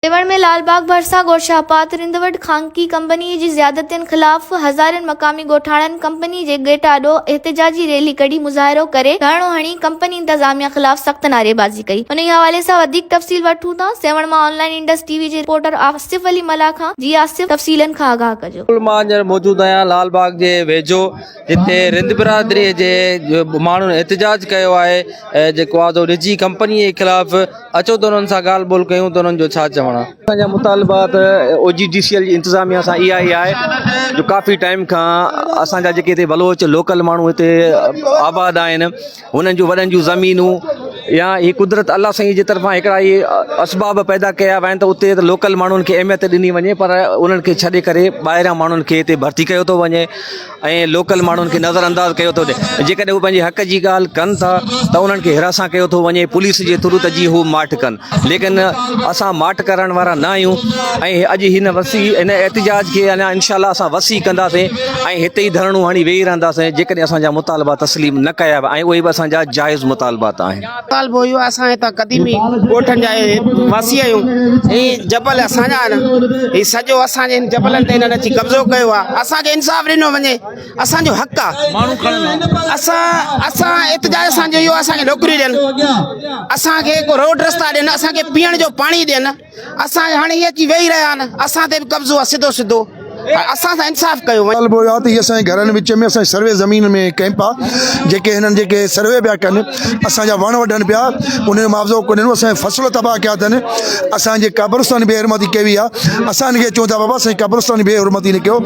ميوند ۾ لال باغ ڀرسان ڳوٺ شاهپات رند وٽ خانگي ڪمپني جي زيادتين خلاف هزارين مقامي ڳوٺاڻن ڪمپني جي گيٽ آڏو احتجاجي ريلي ڪڍي مظاهرو ڪري ڌرڻو هڻي ڪمپني انتظاميا خلاف سخت نعريبازي ڪئي انهي حوالي سان وڌيڪ تفصيل وٺون ٿا سيوهڻ مان online Indus T V جي رپورٽر آصف علي ملاح کان جي آصف تفصيلن کان آگاهه ڪجو. ڪل مان هينئر موجود آهيان لال باغ جي ويجهو. جتي رند برادري جي ماڻهن احتجاج ڪيو آهي جيڪو آزو نجي ڪمپني جي خلاف اچو ته انهن سان ڳالهه ٻولهه ڪيون ته انهن جو ڇا چوڻ آهي اسان جا مطالبات O G D C L جي انتظاميا سان اها ئي آهي جو ڪافي ٽائيم کان اسان جا جيڪي هتي بلوچ لوڪل ماڻهو هتي آباد آهن هنن جون وڏن جون زمينون يا هي قدرت الله سائين جي طرفان هڪڙا هي اسباب پيدا ڪيا ويا آهن ته اتي ته لوڪل ماڻهن کي اهميت ڏني وڃي پر انهن کي ڇڏي ڪري ٻاهريان ماڻهن کي هتي ڀرتي ڪيو ٿو وڃي ۽ لوڪل ماڻهن کي نظر انداز ڪيو ٿو وڃي جيڪڏهن هو پنهنجي حق جي ڳالهه ڪن ٿا ته انهن کي حراسان ڪيو ٿو وڃي پوليس جي ٿرو ته جي هو ماٺ ڪن ليڪن اسان ماٺ ڪرڻ وارا نه آهيون ۽ اڄ هن وسيع هن احتجاج کي اڃا انشاء الله اسان وسيع ڪنداسين ۽ هتي ئي ڌرڻو هڻي ويهي رهنداسين جيڪڏهن اسان جا مطالبا تسليم نه ڪيا ويا ۽ اهي به اسان جا جائز مطالبات آهن. مطالبو اهو آهي اسان هتان قديمي ڳوٺن جا واسي آهيون هي جبل اسان جا آهن هي سڄو اسان جي هن جبلن تي هنن اچي قبضو ڪيو آهي اسان کي انصاف ڏنو وڃي. اسان جو حق آ ماڻهو کڻن اسان اسان احتجاج اسان جو اهو اسان کي نوڪري ڏين اسان کي ڪو روڊ رستا ڏين اسان کي پيئڻ جو پاڻي ڏين اسان هاڻي هي اچي ويهي رهيا آهن اسان تي به قبضو آهي سڌو سڌو اسان سان انصاف ڪيو وڃي ڳالهه اهو آ ته هي اسان جي گهرن وچ ۾ اسان جي سروي زمين ۾ ڪئمپ آ جيڪي هنن جيڪي سروي پيا ڪن اسان جا وڻ وڍن پيا ان جو معاوضو ڪو ڏنو اسان جا فصل تباهه ڪيا اٿن اسان جي قبرستان جي بي حرمتي ڪئي وئي آهي اسان ان کي چون ٿا بابا اسان جي قبرستان جي بي حرمتي نه ڪيو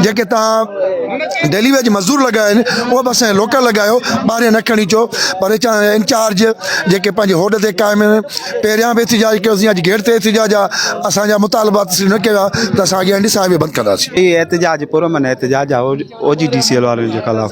جيڪي تان ڊيلي ويج مزدور لڳايا آهن اهي به اسان جا لوڪل لڳايو ٻاهريان نه کڻي اچو پر چاهي انچارج جيڪي پنهنجي هوڏ تي قائم آهن پهريان به احتجاج ڪيوسين اڄ گيٽ تي احتجاج آهي اسان جا مطالبا تسليم نه ڪيا ته اسان اڳيان ڏسان بند ڪنداسين احتجاج پرامن احتجاج آهي O G D C L وارن جي خلاف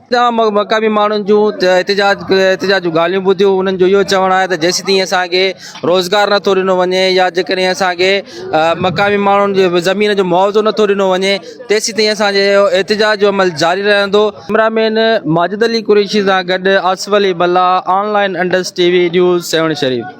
تمام مقامي ماڻهن جون احتجاج احتجاج جون ڳالهيون ٻڌيون انهن جو اهو چوڻ آهي ته جيسيتائين اسان کي روزگار نٿو ڏنو وڃي يا جيڪڏهن اسان کي مقامي ماڻهن جي زمين جو معاوضو نٿو ڏنو وڃي تيسيتائين اسان جي اهو احتجاج جو عمل جاري رهندو ڪئميرامين ماجد علي قريشي سان گڏ Asif Ali Bala online Indus T V news Sehwan شريف